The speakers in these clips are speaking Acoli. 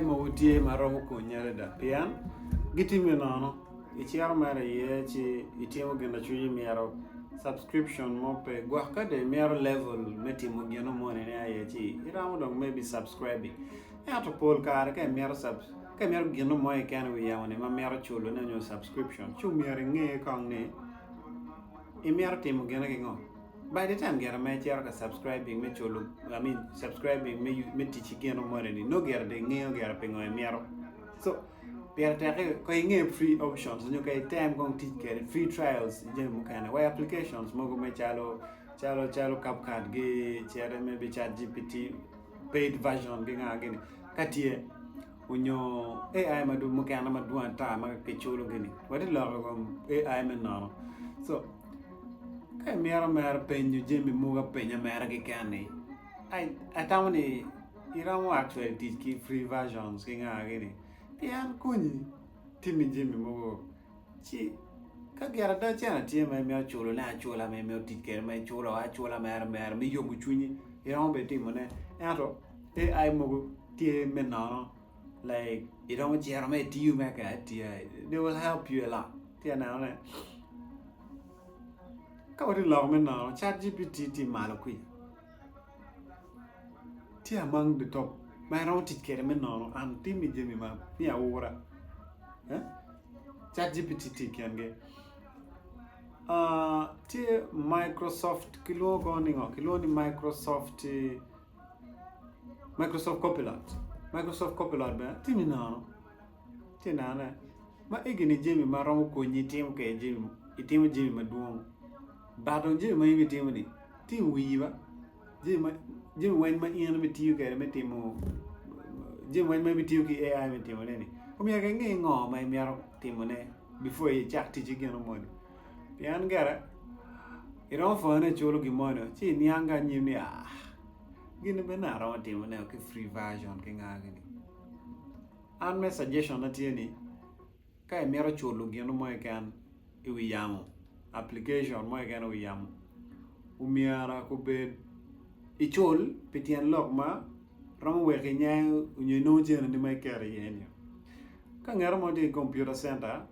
mogo tye ma romo konyi adada pien gitimi nono. Iciro mere iye ci itimo gin lacwinyi mito. Subscription mo pe gwok ka dong imito level me timo gin no moni ni aye ci iromo dong me bi subscribe-bi. Ento pol kare ka imito subs ka imito gin no mo keken i wi yamo-ni ma mito culo ne nyo subscription ci omyero inge kong ni imito timo gine ki ngo. By the time gin ma icito ka subscribing me culo, I mean subscribing me me tic ki gino moni ni nongo gire dong ingeyo gire pingo imito. So pire tek ka inge free options nyo ka item kong tic kwede free trials i jami mukene wa applications mogo me calo calo calo CapCut gi cere maybe chat GPT paid version gi nga gini ka tye onyo AI mukene madwong ata ma kiculo gini wati loko ikom AI me nono so ka imito mere penyo jami mogo apenya mere keken ni ai atamo ni iromo actually tic ki free versions ki nga gini pien konyi timi jami mogo ci ka gin ada cene tye ma imito culo ne acula ma imito tic kede ma iculo acula mere mere me yomo cwinyi iromo bene timo ne ento AI mogo tye me nono like iromo cito ma itiyo mere ki AI they will help you a lot ci aneno ne ka watye lok me nono chat GPT tye malo kwica Tye among the top ma iromo tic kwede me nono an timmi jami man ni aura chat GPT tye i kingi tye Microsoft kilwongo kongo ni ngo kilwongo ni Microsoft Microsoft copilot Microsoft copilot bene tye me nono. Ci nene, ma egini jami ma romo konyi itimo kwede jami, itimo jami madwong. Ba dong jami ma in itimoni, ti iwiyi ba, jami ma jami weng ma in ibitiyo kwede me timo jami weng ma ibitiyo ki AI me timoneni, omyero inge ngo ma imito timone before icak ticci gino moni. Pien gire, iromo pwonyo ni iculo gin moni ci iniang ki anyim ni ah, gini bene aromo timoneo ki free version ki nga gini. An me suggestion na tye ni ka imito culo gino mo keken i wi yamo application mo keken i wi yamo omyera kubed icul pi tyen lok ma romo weki nyang onyo inongo cene ni ma iketo iye ni ka ngera mo tye i computer center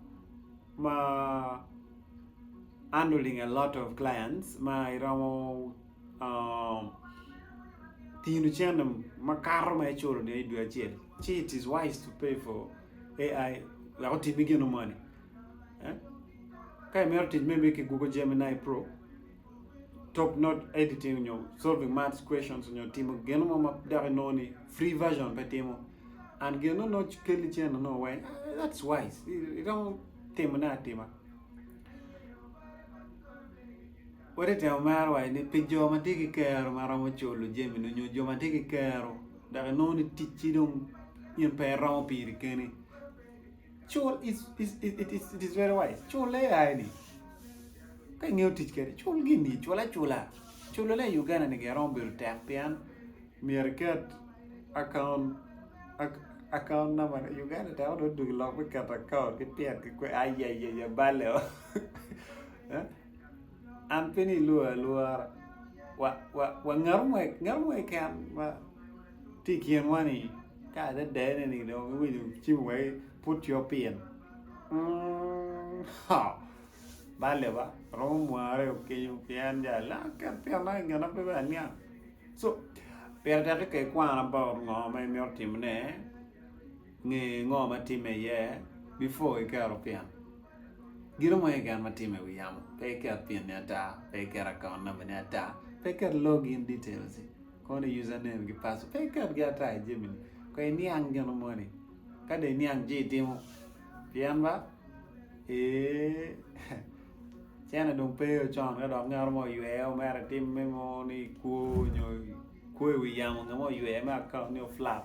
ma handling a lot of clients ma iromo tino cene makato ma iculo ni idwe acel ci it is wise to pay for AI wek otimi gino moni ka imito tic maybe ki Google Gemini pro top not editing nyo solving maths questions nyo timo gino mo ma dok inongo ni free version pe timo and gino nongo kelli cene nongo weng that's wise iromo timone atima. Wati temo mero waci ni pi jo ma tye ki kero ma romo culo jamini onyo jo ma tye ki kero dok inongo ni ticci dong in pe iromo piri keni cul it is very wise cul AI ni ka ingeyo tic kede cul gini cul acula culo ne i Uganda ni gin romo bedo tek pien myero iket akaunt akaunt namba ne Uganda tek dong dong ilok me keto akaunt ki pyet ki kwe ayayaya balle oo An pe ni ilwora alwora. Wa, wa, wa ngato mo, ngato mo keken ma tye i kinwa ni ka adedene ni dong iwinyo cim wai put yo pin. Mm, ha. Bale ba, romo mware okenyo pien ja la ket pien na ngena pe ben niang. So, pire tek ka ikwana about ngo ma imito timone. Nge ngo ma timme iye before iketo pin gin mo iye gen ma timme iwi yamo pe iket pin ni ata pe iket account number ni ata pe iket log in details i kong ni user name ki password pe iket gi ata i jami ni kong iniang gin mo ni ka dong iniang ci itimo pien ba eeh cene dong pe o con ka dok ngat mo oyweye o mere tim me ngo ni kwo nyo kwo iwi yamo nge mo oyweye me account ni o flap.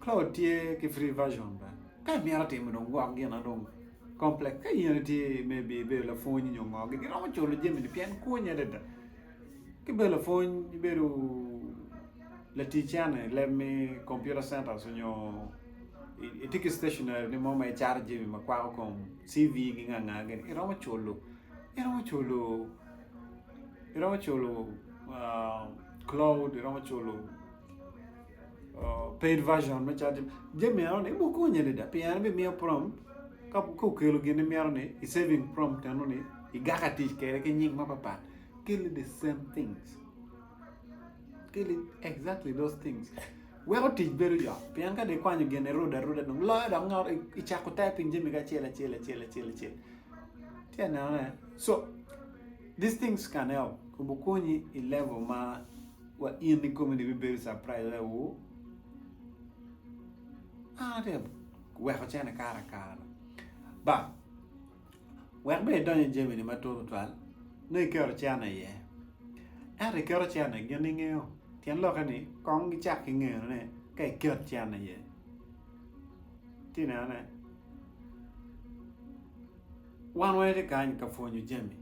Claude tye ki free version bene ka imito timo dong gwok gin na dong complex ka in itye maybe ibedo lapwony nyo ngo gin iromo culo jami ni pien konyi adada ka ibedo lapwony ibedo laticene ileb me computer centers nyo itye ki stationary ni mo ma icato jami ma kwako kom CV gi nga nga gini iromo culo iromo culo iromo culo Claude iromo culo paid version me chat jami eno ni ibo konyi adada pien en bimiyo prom ka okelo gin imito ni i saving prom eno ni igaka tic kwede ki nying mapapat keli the same things keli exactly those things weko tic bedo yot pien ka dong ikwanyo gin irudo aruda dong loyo dok ngat icako typing jamigi acel acel acel acel acel ci anenone so these things can help kobo konyi i level ma Wa in ikomi ni bibedo surprise adada wo. An te weko cene kara kara. Ba wek be idonyo i jami ni matut tutwal nongo iketo cene iye. Ento iketo cene gin ingeyo tyen lokke ni kong gicak ki ngeno ne ka iket cene iye. Ti neno ne wan wene ti kany ka pwonyo jami.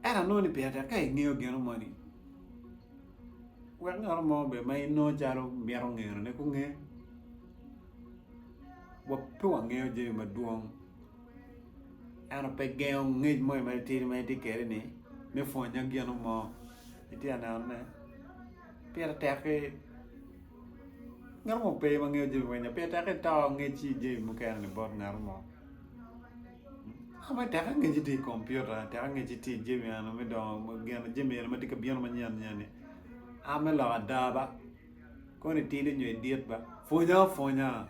Ento anongo ni pire tek ka ingeyo gino moni wek ngat mo bene ma inongo calo mito ngenone gunge. Pe wangeyo jami madwong ento pe gengo ngec mo matitidi ma itye kwede ni me pwonya gin mo. Itye ka neno ne pire tek ki ngat mo pe ma ngeyo jami magi pire tek ki to ngec ki jami mukene bot ngat mo. Tek angeci tye i kom piota tek angeci tye i jami eni me dongo jami eni matye ka bino manyen nyen ni a me lok ada ba koni tidi nyo idit ba pwonya pwonya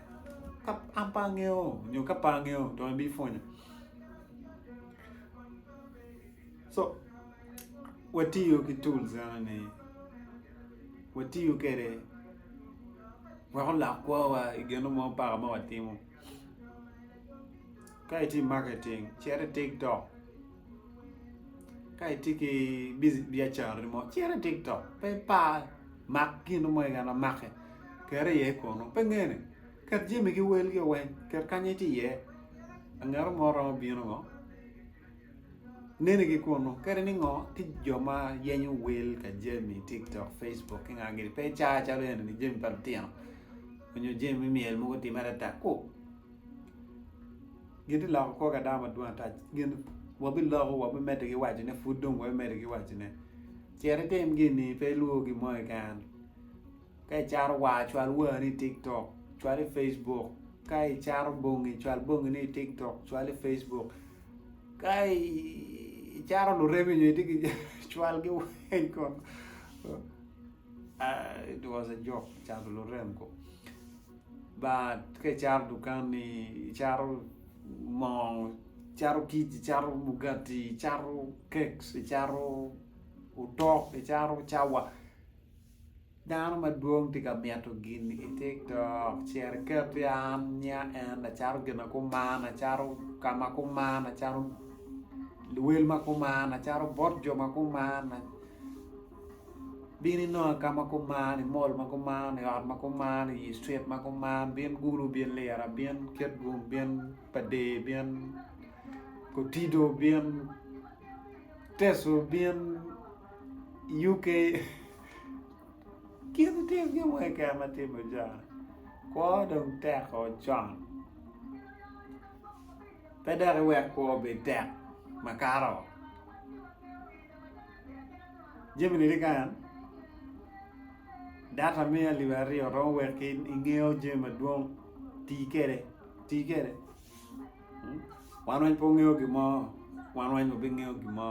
ka an pe angeyo nyo ka pe angeyo to in bipwonya co watiyo ki tools eno ni watiyo kede wek olok kwowa igeno mo paka ma watimo. Ka itye i maketing cit i tiktok ka itye ki biacarani mo cit i tiktok pe ipar mak gin mo keken ma make ket iye kunu pe ngene ket jamigi welgi weng ket kanya itye iye ngat mo romo bino ngo. Neni ki kunu. Kadi ni ngo, ti jo ma yenyo wel ka jami i TikTok, Facebook ki nga gini. Pe icaa calo eni ni jami pa lutino onyo jami me myel mogo time adada ku. Gi ti loko kor ka dano madwong ata gin wa bi loko wa bi mede ki waco ne pud dong wa bi mede ki waco ne. Cit itim gini pe ilwor gin mo keken. Ka icato war cwal warni i tiktok cwal i Facebook ka icato bongi cwal bongini i tiktok cwal i Facebook ka icato lureme nyo itye ki cwalgi weng kong it was a joke cato lurem kong but ka icato dukanni icato moo icato kic icato mugati icato keks icato otok icato cawa Dano madwong tye ka mito gini i tiktok cer iketi an niya en acato gin ma kuman acato ka ma kuman acato luwel ma kuman acato bot jo ma kuman bin inonga ka ma kuman i mall ma kuman i ot ma kuman i yi street ma kuman bin gulu bin lira bin kit gun bin pa der bin kotido bin teso bin UK, Kit tye gin mo keken ma tye meja, kwo dong tek o con, pe dok iwek kwo obed tek makato o. Jami ni tye kany, data me alip aryo romo wek ki ingeyo jami madwong, tii kede, tii kede, wan weng pe wungeyo gin mo, wan weng wabingeyo gin mo.